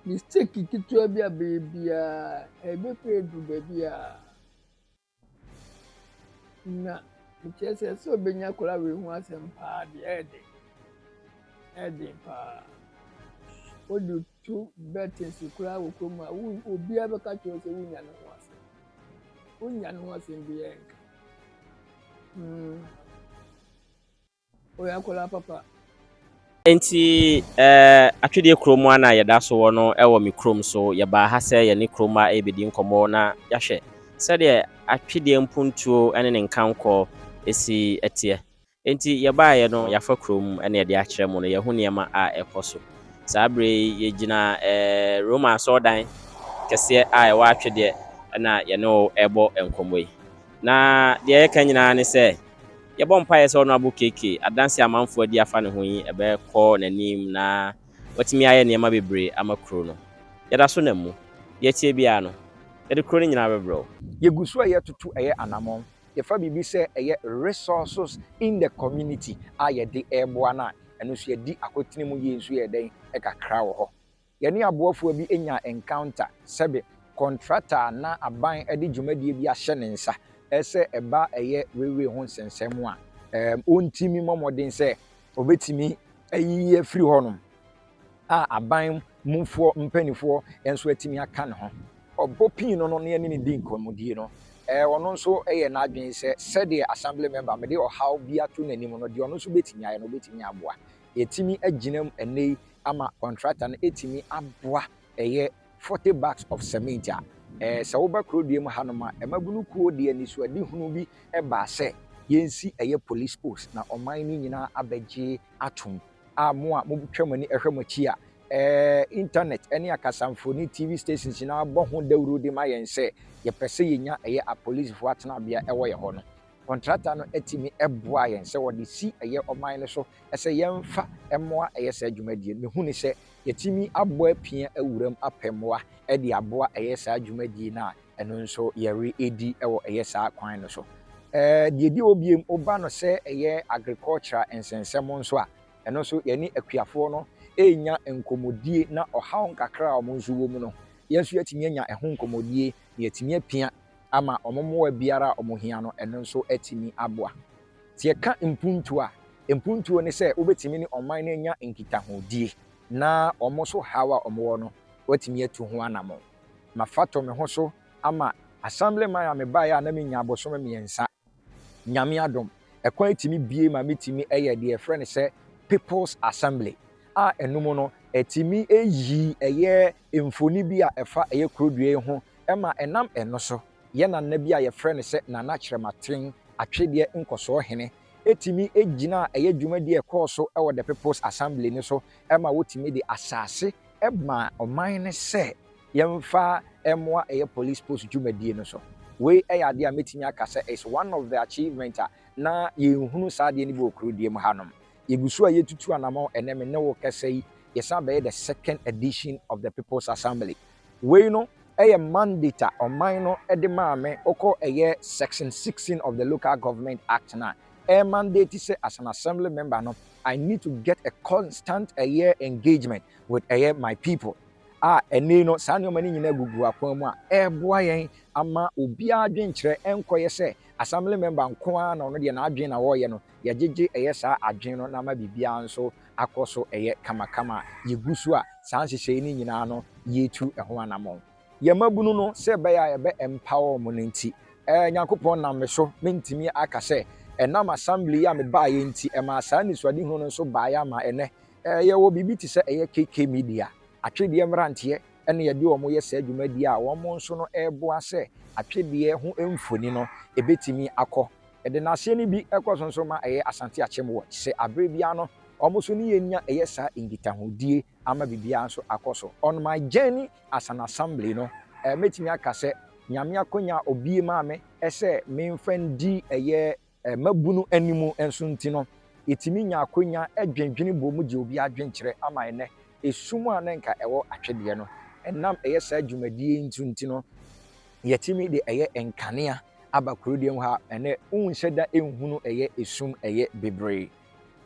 Mistake ketewa bi a bɛyɛ biara, ɛbɛpira duru baabi a. Na mekyerɛ sɛ, sɛ obenya akwadaa wei ho asɛm paa deɛ, ɛyɛ den. Ɛyɛ den paa. Wode to bɛten so koraa wɔ kurom a, wo obiara bɛka akyerɛ wo sɛ wonnya ne ho asɛm. Wonnya ne ho asɛm biara nka. Mm. Ɔyɛ akwadaa papa. Enti eh, Atwedeɛ kurom a na yɛda so wɔ no wɔ me kurom, so yɛbaa ha sɛ yɛne kurom mma rebɛdi nkɔmmɔ na yɛahwɛ sɛdeɛ Atwedeɛ mpuntuo ne ne nkankɔ si teɛ. Enti yɛbaeɛ no, yɛafa kurom na yɛde akyerɛ mo no, yɛahu nneɛma a ɛrekɔ so. Saa berɛ yi, yɛgyina eh, Roma asɔrdan kɛseɛ a ɛwɔ Atwedeɛ na yɛne wo rebɔ nkɔmmɔ yi. Na deɛ yɛka nyinaa ne sɛ, Yɛbɔ mpaeɛ sɛ Honourable KK adanseɛ a amanfoɔ adi afa ne ho yi bɛkɔ n'anim na watumi ayɛ nneɛma bebree ama kuro no. Yɛda so nam mu. Deɛ ɛteɛ biara no, yɛde kuro no nyinaa bɛbrɛ wo. Yɛgu so yɛ toto ɛyɛ anamɔn, yɛfa biribi sɛ ɛyɛ resources in the community a yɛde reboa no a, ɛno nso yɛadi akotene mu yie nso yɛyɛ dɛn, ɛkakra wɔ hɔ. Yɛne aboafoɔ bi nyaa encounter, sɛbe kɔntrata a na aban de dwumadie bi ahyɛ ne nsa sɛ ɛba ɛyɛ railway ho nsɛnsɛm mu a, ɔntumi mmɔ mmɔden sɛ ɔbɛtumi ayiyi afiri hɔnom a aban mufoɔ mpaninfoɔ nso atumi aka ne ho. Ɔbɔ pii no no na yɛne no di nkɔmmɔdie no, ɔno nso yɛɛ n'adwene sɛ sɛdeɛ Assembly Member mede ɔhaw bi ato n'anim no, deɛ ɔno nso bɛtumi ayɛ no ɔbɛtumi aboa. Yɛatumi agyina mu ɛnnɛ yi ama kɔntrata no atumi aboa ɛyɛ forty bags of cement a sɛ woba Kuroduam hanom a ɛmabunu kuo de anisoadehunu bi baa sɛ yɛnsi ɛyɛ police post na ɔman no nyinaa abɛgye atom a mo a motwa mo ani hwɛ mo akyi a internet ne akasamfoni TV stations nyinaa bɔ ho dawuro de ma yɛn sɛ yɛpɛ sɛ yɛnya ɛyɛ apolicefoɔ atenabea ɛwɔ yɛn hɔ no. Kɔntrata no tumi boa yɛn sɛ wɔde si ɛyɛ ɔman no so sɛ yɛmfa mmoa yɛ saa dwumadie no. Mehu no sɛ yɛtumi abɔ apia awura mu apɛ mmoa de aboa ɛyɛ saa dwumadie no a ɛno nso yɛredi wɔ ɛyɛ saa kwan no so. Deɛ ɛdi hɔ bio, woba no sɛ ɛyɛ agricultural nsɛnsɛm nso a, ɛno nso yɛne akuafoɔ no renya nkɔmmɔdie na ɔhaw nkakra a wɔn nso wɔ mu no, yɛn nso yɛatumi anya ɛho nkɔmmɔdie na yɛatumi apia. ama wɔn mmoa biara a wɔhia no, ɛno nso atumi aboa. Sɛ yɛka mpuntuo a, mpuntuo ne sɛ wobɛtumi ne ɔman no anya nkitahodie na wɔn nso haw a wɔwɔ no, wɔatumi atu ho anammɔn. Mafa to me ho so ama Assemblyman a mebaeɛ a na menya abosome mmiɛnsa. Nyame adom, ɛkwan tumi bue ma metumi yɛ deɛ yɛfrɛ no sɛ People's Assembly a ɛno mu no ɛtumi yi ɛyɛ mfoni bi a ɛfa ɛyɛ kuro dua yi ho ma ɛnam ɛno so yɛ nana bi a yɛfrɛ no sɛ Nana Kyerɛmaten Atwedeɛ Nkɔsoɔ Hene tumi gyinaa ɛyɛ dwumadie a ɛkɔɔ so wɔ the People's Assembly no so ma wɔtumi de asase maa ɔman no sɛ Yɛmfa mmoa ɛyɛ police post dwumadie no so. Wei yɛ adeɛ a mɛtumi aka sɛ it's one of the achievement a na yɛnhunu saa adeɛ no bi wɔ Kurodie mu hanom. Yɛgu so a yɛtutu anamɔn ɛnnɛ me ne wo rekasa yi yɛsan abɛyɛ the second edition of the people's assembly. Wei no yɛ mandate a ɔman no de maa me, wokɔ ɛyɛ section sixteen of the local government act no a ɛyɛ mandate sɛ as an assembly member no I need to get a constant ɛyɛ engagement with ɛyɛ my people. a ɛnnɛ yi no saa nneɛma no nyinaa gugu akwan mu a, ɛreboa yɛn ama obiara adwenkyerɛ ɛnkɔyɛ sɛ assembly member nko ara na ɔno deɛ n'adwene na ɔreyɛ no, yɛgyegye ɛyɛ saa adwene no na ama biribiara nso akɔ so ɛyɛ kamakama a, yɛgu so a saa nhyehyɛeɛ no nyinaa no yɛretu ɛho anammɔn. Yɛn mmabunu no, sɛ ɛbɛyɛ a yɛbɛ empower wɔn no nti, ɛɛ Nyankopɔn nam me so, mentumi aka sɛ ɛnam assembly yi a mebaeɛ nti ɛmaa saa anisoadehunu no nso baeɛ ama ɛnnɛ Yɛwɔ biribi te sɛ ɛyɛ KK Media, atwedeɛ mmeranteɛ na yɛde wɔn yɛ saa dwumadie a wɔn nso no reboa sɛ atwedeɛ ho mfoni no bɛtumi akɔ. Yɛde n'aseɛ no bi kɔ so nso ma ɛyɛ Asante Akyem Watch sɛ aberɛ biara no wɔn nso ne yɛn nya ɛyɛ saa nkitahodie ama biribiara nso akɔ so. On my journey as an Assembly no, mɛtumi aka sɛ Nyame akwanya a ɔbue maa me sɛ memfa ndi ɛyɛ Mmabunu anim nso nti no, yetumi nya akwanya dwendwene bom gye obi adwenkyerɛ ama ɛnnɛ esum a na anka ɛwɔ atwedeɛ no. Ɛnam ɛyɛ saa dwumadie yi nso nti no, yɛtumi de ɛyɛ nkanea aba kurodeɛ mu ha a ɛnnɛ wonhyɛ da nhunu ɛyɛ esum, ɛyɛ bibire.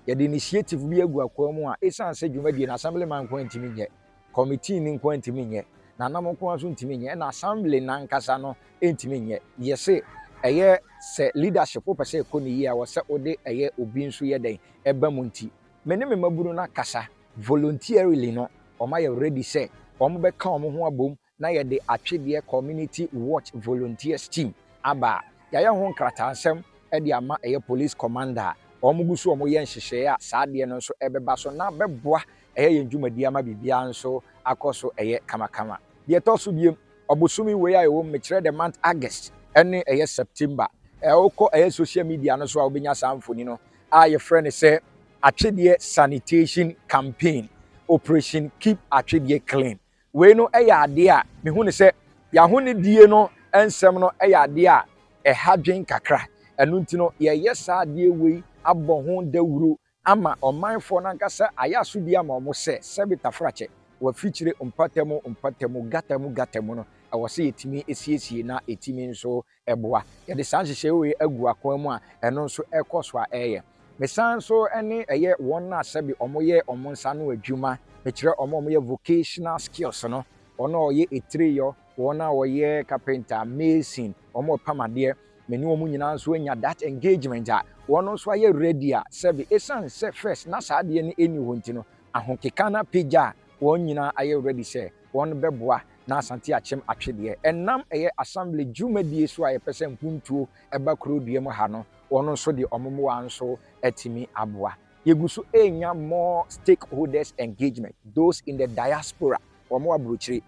Yɛde initiative bi agu akwaa mu a esiane sɛ dwumadie no Assemblyman nko ara ntumi nyɛ, Kɔmitee no nko ara ntumi nyɛ, na nam nko ara nso ntumi nyɛ, ɛna Assembly no ankasa no ntumi nyɛ. Yɛse ɛyɛ sɛ leadership wopɛ sɛ ɛkɔ no yie a ɛwɔ sɛ wode ɛyɛ obi nso yɛ dɛn? Ɛba mu nti me ne me mmabunu no akasa voluntarily no wɔayɛ ready sɛ wɔbɛka wɔn ho abom na yɛde Atwedeɛ Community Watch Volunteers Team aba a, yɛayɛ ho nkrataasɛm de ama ɛyɛ Police Command a wɔgu so wɔyɛ nhyehyɛeɛ a saa adeɛ no nso bɛba so na bɛboa ɛyɛ yɛn dwumadie ama biribiara nso akɔ so ɛyɛ kamakama. Deɛ ɛtɔ so biom, ɔbosome wei a yɛwɔ mu, mekyerɛ the month August ne ɛyɛ September, wokɔ ɛyɛ social media no so a wobɛnya saa mfoni no a yɛfrɛ no sɛ Atwedeɛ Sanitation Campaign, Operation Keep Atwedeɛ Clean. Wei no yɛ adeɛ a mehu no sɛ y'ahonidie no nsɛm no yɛ adeɛ a ɛha dwen kakra. Ɛno nti no yɛreyɛ saa adeɛ wei abɔ ho dawuro ama ɔmanfoɔ no ankasa ayɛ asodie ama wɔn sɛ sɛbe tafrakyɛ wɔ afikyire mpatamu mpatamu, gatamu gatamu no ɛwɔ sɛ yɛtumi siesie na ɛtumi nso ɛboa. Yɛde saa nhyehyɛe wei agu akwan mu a, ɛno nso ɛkɔ so ara yɛ. Mesan nso ne ɛyɛ wɔn a sɛbe wɔyɛ wɔn nsa ano adwuma, mekyerɛ wɔn a wɔyɛ vocational skills no, wɔn a wɔyɛ etireyɔ, wɔn a wɔyɛ kapenta, mason, wɔn a wɔpam adeɛ, me ne wɔn nyinaa nso anya that engagement a, wɔn nso ayɛ ready a sɛbe ɛsiane sɛ first na saa adeɛ no nni hɔ nti no, ahokeka no apagya a, wɔn nyinaa ayɛ ready sɛ. wɔn bɛboa na Asante akyem atwedeɛ ɛnam ɛyɛ Assembly dwumadie so a yɛpɛ sɛ mpuntuo ɛba kuro dua mu ha no wɔn nso de wɔn mmoa nso atumi aboa. Yɛgu so renya more stakeholders engagement, those in the diaspora wɔn wɔ aburokyire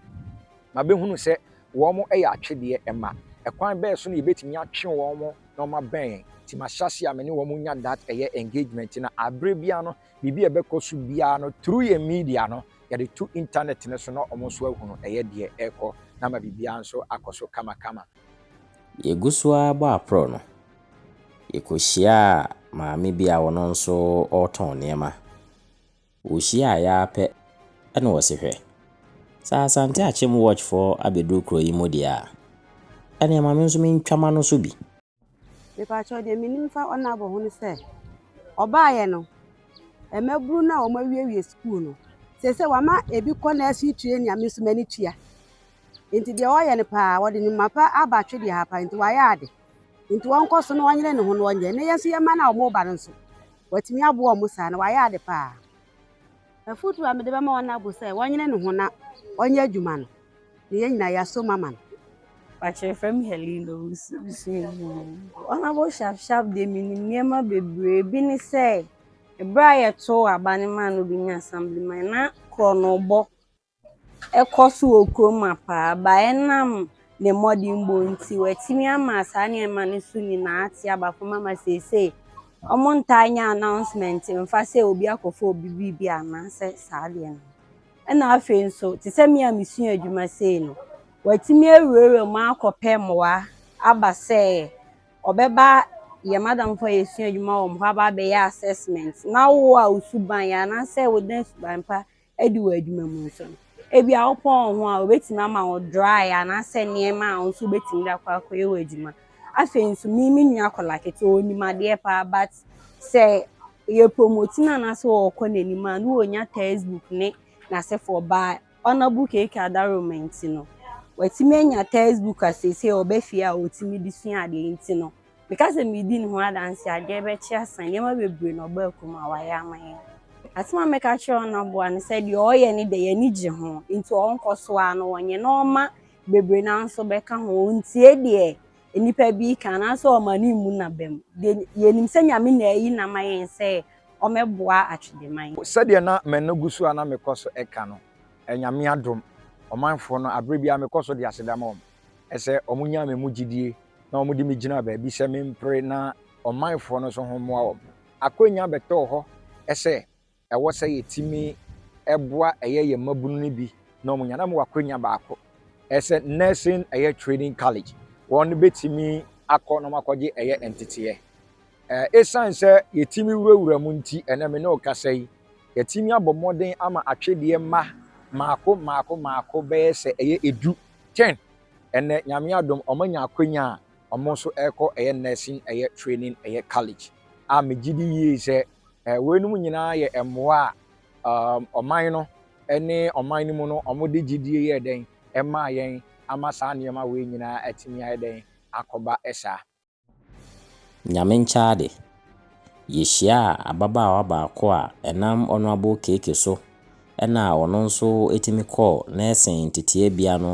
ma bɛhunu sɛ wɔn ɛyɛ atwedeɛ ɛma, ɛkwan bɛɛ so na yɛbɛtumi atwe wɔn na wɔn abɛn yɛn, nti mahyɛ aseɛ a me ne wɔn nya that ɛyɛ engagement na aberɛ biara no Biribi a ɛbɛkɔ so biara no through yɛn media no yɛde to internet no so na wɔn nso ahu no ɛyɛ deɛ ɛrekɔ na ama biribiara nso akɔ so kamakama. Yɛgu so ara bɔ aprɔ no, yɛkɔhyiaa maame bi a ɔno nso ɔretɔn nneɛma. Wɔhyiaaeɛ ara pɛ na ɔse hwɛ, sɛ Asante Akyem Watch foɔ abɛduru kuro yi mu deɛ a, ɛnneɛ ma me nso mentwa m'ano so bi. Mepaakyɛw deɛ menim fa Onabo ho ne sɛ, ɔbaeɛ no, mmabunu no a wɔawiewie sukuu no, seesei wama ebi kɔ nursery training a me nso m'ani tua. Nti deɛ ɔyɛ no paa, ɔde ne mma pa aba atwe deɛ ha pa, nti wayɛ ade. Nti ɔnkɔ so na ɔnyere ne ho na ɔnyɛ. Na yɛn nso yɛn mma no a wɔreba no nso, watumi aboa wɔn saa, na wayɛ ade paa. Afotu a mede bɛma wɔn abo sɛ wɔnyene ne ho na ɔnyɛ adwuma no, na yɛn nyinaa yɛaso mu ama no. Pakyɛ frɛ me Helene Owusu abusua mu. Honourable Shaf Shaf deɛ menim nneɛma bebree, ebi ne sɛ, berɛ a yɛtoo aba no maa no bɛnya Assemblyman, na korɔnobɔ kɔ so wɔ kurom ma paa, but ɛnam ne mmɔdenbɔ nti, watumi ama saa nneɛma no so nyinaa ate aba fam ama seesei wɔntaa nyɛ announcement mfa sɛ obi akɔfa obi biribi anaasɛ saa adeɛ no. Ɛna afei nso, te sɛ me a mesua adwuma sei no, watumi awurawura mu akɔpɛ mmoa aba sɛ ɔbɛba yɛn madamfo a yɛsua adwuma wɔ wɔn hɔ aba abɛyɛ assessment na wo a wo suban yɛ anaasɛ woda suban pa adi wɔ adwuma mu nso no, ebia wopɔn wo ho a, wɔbɛtumi ama wo drae anaasɛ nneɛma a wo nso wobɛtumi de akɔ akɔyɛ w'adwuma. Afei nso, me me nua akwadaa ketewa, ɔnim adeɛ paa but sɛ yɛpromote no anaasɛ ɔrekɔ n'anim a, na ɔnya textbook ne n'asefoɔ baa Honourable KK Adaroma nti no, watumi anya textbook a seesei ɔba fie a ɔtumi de sua adeɛ nti no, Meka sɛ meredi ne ho adanse a, deɛ ɛbɛkye asa. Nneɛma bebree na ɔbaa kurom a wayɛ ama yɛn. Asɛm a mɛka akyerɛ wɔn aboa ne sɛ deɛ ɔreyɛ no deɛ, yɛn ani gye ho, enti ɔnkɔ so ara na ɔnyɛ na ɔmma bebree no ara nso bɛka ho. Ɔntie deɛ nnipa bi reka anaasɛ ɔmma ne mmu n'abam. Deɛ yɛnim sɛ Nyame na ayi no ama yɛn sɛ ɔmmɛboa Atwedeman. Sɛdeɛ na m'ano gu so a na mekɔ so ka no, Nyame adom, ɔmanfoɔ no, aberɛ biara mekɔ so de aseda ma wɔn. Ɛsɛ wɔnya me mu gyidie na wɔde me gyina baabi sɛ mempere na ɔmanfoɔ no nso ho mmoa wɔn. Akwanya bɛtɔɔ hɔ sɛ ɛwɔ sɛ yɛtumi boa ɛyɛ yɛn mmabunu no bi na wɔnya. Na mewɔ akwanya baako sɛ Nursing ɛyɛ Training College, wɔn bɛtumi akɔ na wɔakɔgye ɛyɛ nteteɛ. Ɛsiane sɛ yɛtumi wurawura mu nti, ɛnɛ me ne wo kasa yi, yɛatumi abɔ mmɔden ama atwedeɛ mma mmaako mmaako mmaako bɛyɛ sɛ ɛyɛ edu Jen, Ɛnnɛ, Nyame adom, wɔanya akwanya a wɔn nso rekɔ yɛ nursing ɛyɛ training ɛyɛ college a megye di yie sɛ weinom nyinaa yɛ mmoa a ɔman no ne ɔman no mu no wɔde gyedie yɛɛ dɛn ɛmaa yɛn ama saa nneɛma wei nyinaa atumi ayɛ dɛn akɔba saa. Nyame nkyɛade, yehyiaa ababaawa baako a ɛnam Honourable Keke so na ɔno nso tumi kɔɔ nursing nteteabea no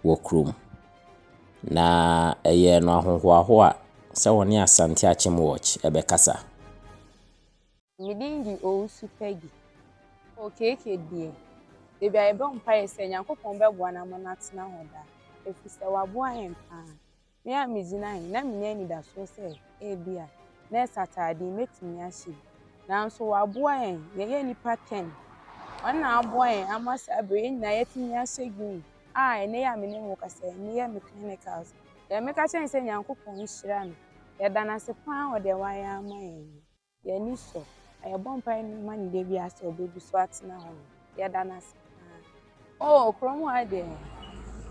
wɔ kurom. Na ɛyɛɛ no ahohoahoa sɛ ɔne Asante Akyem Watch bɛkasa. Me din de Owusu Peggy. O Keke deɛ, baabi a yɛbɔ mpaeɛ sɛ Nyankopɔn bɛboa no ama no atena hɔ daa, ɛfiri sɛ waboa yɛn paa. Me a migyina he, na minya anidasoɔ sɛ ebia nɛɛse ataade yi mɛtumi ahyɛ bi. Nanso wɔaboa yɛn, yɛyɛ nnipa tɛn. Wɔn na aboa yɛn ama saa bere yi yɛn nyinaa yɛatumi ahyɛ green a ɛnnɛ yi a me ne mo rekasa yi meyɛ me clinicals. Deɛ meka kyerɛ ne sɛ Nyankopɔn nhyira no. Yɛda no ase paa wɔ deɛ wayɛ ama yɛn no. Yɛn ani sɔ a yɛbɔ mpae no ma ne da biara sɛ ɔbɛgu so atena hɔ no, yɛda no ase paa. Oh, kurom hɔ ha deɛ,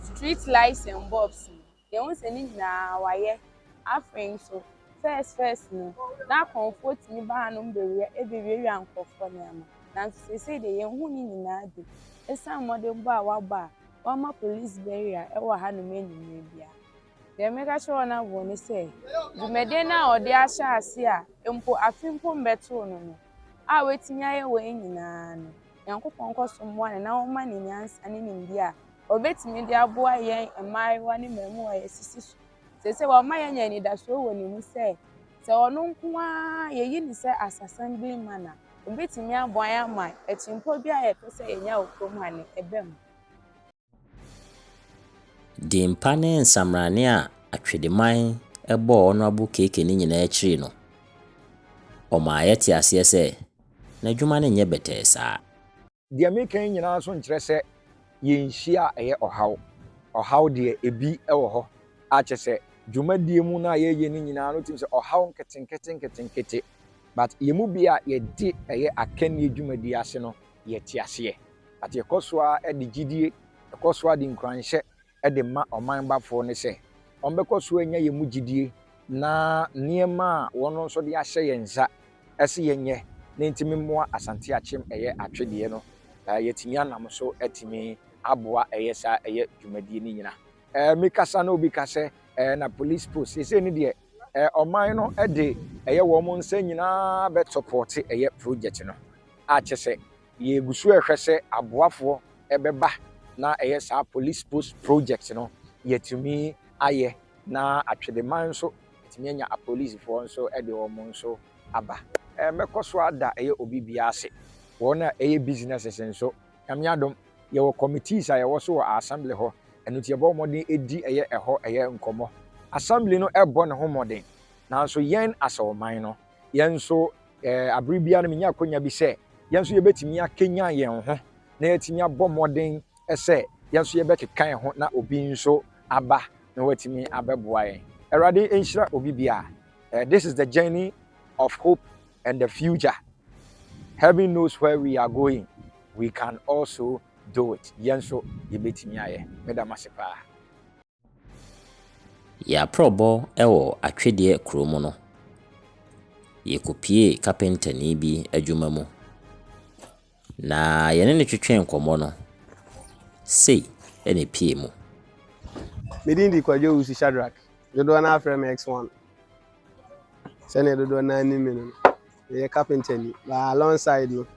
street lights and bulbs no, yɛhu sɛ ne nyinaa wɔayɛ. Afei nso, first first no, na akɔmfoɔ tumi ba hanom bɛwia bɛwiawia nkurɔfoɔ nneɛma. Nanso seesei deɛ, yɛnhu ne nyinaa bi ɛsiane mmɔdenbɔ a wɔabɔ a wɔama police barrier wɔ hanom anwummerɛ biara. Deɛ mɛka kyerɛ wɔn aboɔ ne sɛ, dwumadie no a ɔde ahyɛ ase a mpo afe mpo mbɛtoo no no, a watumi ayɛ wei nyinaa no, Nyankopɔn nkɔ so mmoa no na ɔmma no nyansa ne nimdeɛ a ɔbɛtumi de aboa yɛn mmaayewa ne mmaamua a yɛsisi so seesei. Wama yɛanya anidasoɔ wɔ ne mu sɛ, sɛ ɔno nko ara yɛyi no sɛ Asasambene man a, ɔbɛtumi aboa yɛn ama akyinpɔ biara a yɛpɛ sɛ yɛnya wɔ kurom ha no, ɛba mu. Din pa ne nsamanane a Atwedeman bɔɔ Honourable KK no nyinaa akyiri no, ɔmaa yɛte aseɛ sɛ n'adwuma no nyɛ bɛtɛɛ saa. Deɛ mereka yi nyinaa nso nkyerɛ sɛ yɛnhyia a ɛyɛ ɔhaw. Ɔhaw deɛ, ebi wɔ hɔ a kyerɛ sɛ dwumadie mu no a yɛyɛ no nyinaa no wotumi sɛ ɔhaw nketenkete nketenkete but yɛn mu bi a yɛde ɛyɛ akannie dwumadie ase no, yɛte aseɛ. But yɛkɔ so ara de gyidie, yɛkɔ so ara de nkuranhyɛ de ma ɔman bafoɔ no sɛ, wɔbɛkɔ so anya yɛn mu gyidie na nneɛma a wɔn nso de ahyɛ yɛn nsa se yɛnyɛ na ɛntumi mmoa Asante Akyem ɛyɛ atwedeɛ no, yɛatumi anam so atumi aboa ɛyɛ saa ɛyɛ dwumadie no nyina. Me kasa na obi ka sɛ na police post, seesei no deɛ ɔman no de ɛyɛ wɔn nsa nyina ara bɛtɔpɔɔte ɛyɛ project no. a kyɛ sɛ yɛgu so rehwɛ sɛ aboafoɔ bɛba na ɛyɛ saa Police Post Project no yɛatumi ayɛ na Atwedeman nso atumi anya apolisifoɔ nso de wɔn nso aba. Mɛkɔ so ada ɛyɛ obi biara ase, wɔn a ɛyɛ businesses nso, Nyame adom yɛwɔ committees a yɛwɔ so wɔ Assembly hɔ, ɛno nti yɛbɔ mmɔden di ɛyɛ ɛhɔ ɛyɛ nkɔmmɔ. Assembly no rebɔ ne ho mmɔden nanso yɛn as ɔman no, yɛn nso bere biara no menya akwanya bi sɛ yɛn nso yɛbɛtumi akanyan yɛn ho na yɛatumi abɔ mmɔden sɛ yɛn nso yɛbɛkeka yɛn ho na obi nso aba na watumi abɛboa yɛn. Awurade nhyira obi biara. Eh, this is the journey of hope and the future. Heaven knows where we are going. We can also do it. Yɛn nso yɛbɛtumi ayɛ. Meda mo ase paa. Yɛaprɔbɔ wɔ Atwedeɛ kuro mu no, yɛkɔpuee kapentani bi adwuma mu. Na yɛne no twetwee nkɔmmɔ no, sei na ɛpuee mu. Me din de Kwadwo Owusu Shadrack. Dodoɔ no ara frɛ me X1. Sɛdeɛ dodoɔ no ara nim me no, meyɛ kapentani. But alongside no,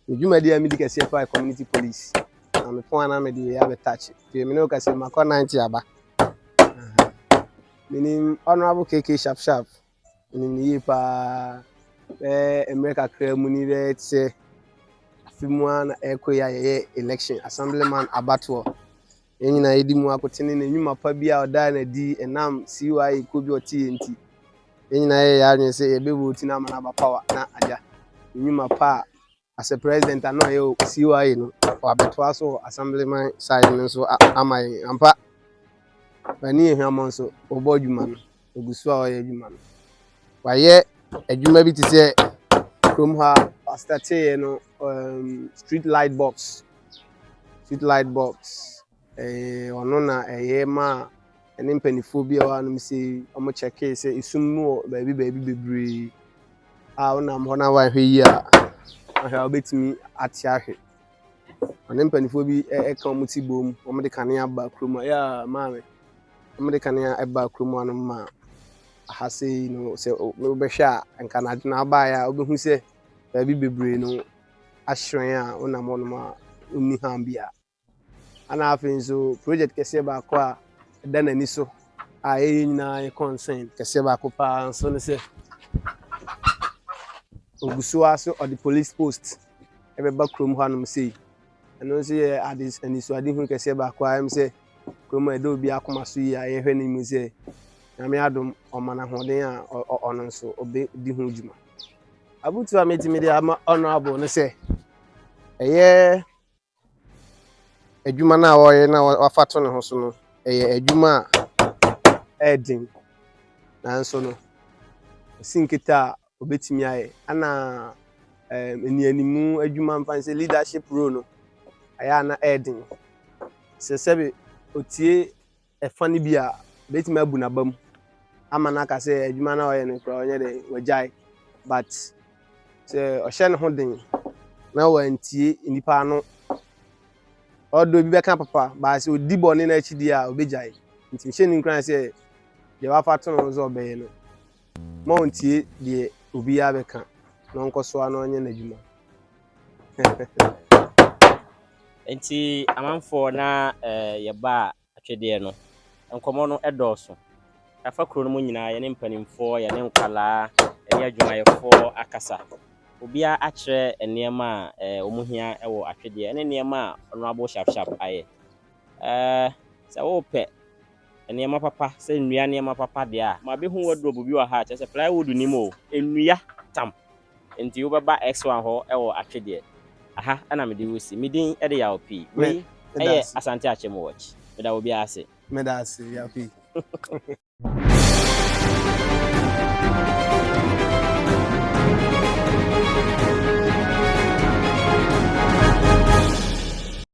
Me dwumadi a midi kɛseɛ paa yɛ community police. Na me pon ana mede yɛ abɛ touch. Nti me ne wo kasa makɔ 90 aba. Menim honorable KK sharp sharp. Menim ne yie paa. Bɛɛ mmerɛ kakra mu ni bɛɛ te sɛ afe mu a na ɛkɔ yi a yɛyɛ election assemblyman abatoɔ. Yɛn nyinaa yedi mu akotene na nnwuma pa bi a ɔdaa no adi ɛnam CYA kuo bi a ɔte yɛ nti. Yɛn nyinaa yɛyɛ yɛn adwene sɛ yɛbɛ vote no ama no aba power na agya nnwuma pa a as a president a na ɔyɛ wɔ CYA no wabɛtoa so wɔ assemblyman side no nso ama yɛn. Ampa, Bani Ahiamɔ nso ɔbɔ adwuma no. ɔgu so a ɔyɛ adwuma no. Wayɛ adwuma bi te sɛ kurom ha pastor teeɛ no um, street light box street light box eh, ɔno na ɛyɛ ma ɛne mpanimfoɔ bi a ɛwɔ anom sɛ wɔn kyɛkee sɛ esum mu wɔ baabi baabi bebree a wonam hɔ na wahwɛ yie a ahwɛ a wobɛtumi ate ahwɛ Ɔne mpanimfoɔ bi ɛka wɔn ti bom, wɔde kanea ba kurom a, yaa maame, wɔde kanea ɛba kurom ano ma aha sei no sɛ wobɛhwɛ a nka n'adwo na abaeɛ a wobɛhu sɛ baabi bebree no ahyerɛn a wonam hɔ nom a wonni ham biara. Ana afei nso project kɛseɛ baako a ɛda n'ani so a ɛyɛ nyinaa yɛ concern kɛseɛ baako paa nso ne sɛ ogu so ara so ɔde police post ɛbɛba kurom hɔnom sei. Ɛno nso yɛ ade anisoadehunu kɛseɛ baako a ɛm sɛ kurom a ɛda obi akoma so yie a yɛhwɛ no mu sɛ nyame adom ɔma no ahoɔden a ɔno nso ɔbɛdi ho dwuma abutu a mɛtumi de ama ɔno abo no sɛ ɛyɛ adwuma no a ɔreyɛ na wafa to ne ho so no ɛyɛ adwuma a ɛyɛ den nanso no ɛsi nkete a obetumi ayɛ ɛna ɛɛ nnianimu adwuma mfa sɛ leadership role no ɛyɛ a na ɛyɛ den sɛ sɛbi otie. ɛfã no bi a, obetumi abu n'abam ama no aka sɛ adwuma no a ɔyɛ no koraa ɔnyɛ dɛ, wagyae. But sɛ ɔhyɛ ne ho den na wantie nnipa ano, although ebi bɛka papa, but sɛ odi bɔne no akyi deɛ a, obegyae. Nti nhyɛ no nkuran sɛ deɛ wafa to no sɛ ɔbɛyɛ no, Mma ɔntie deɛ obiara bɛka na ɔnkɔ so ara na ɔnyɛ n'adwuma. Nti amanfoɔ na yɛbaa atwedeɛ no. Nkɔmmɔ no dɔɔso. Yɛafa kuro no mu nyinaa, yɛne mpanimfoɔ, yɛne nkwadaa, yɛne adwumayɛfoɔ akasa. Obiara akyerɛ nneɛma a wɔhia wɔ atwedeɛ ne nneɛma a Honourable Shafshaf ayɛ. Sɛ worepɛ. Nneɛma papa, sɛ nnua nneɛma papa deɛ a, mabɛhu wardrobe bi wɔ ha a, kyerɛ sɛ plywood nnim o, nnua tam. Enti wobɛba X1 hɔ wɔ Atwedeɛ. Aha na mede wo si. Me din de Yaw Pii. Wei yɛ Asante Akyem Watch. Meda obiara ase. Meda ase, Yaw Pii.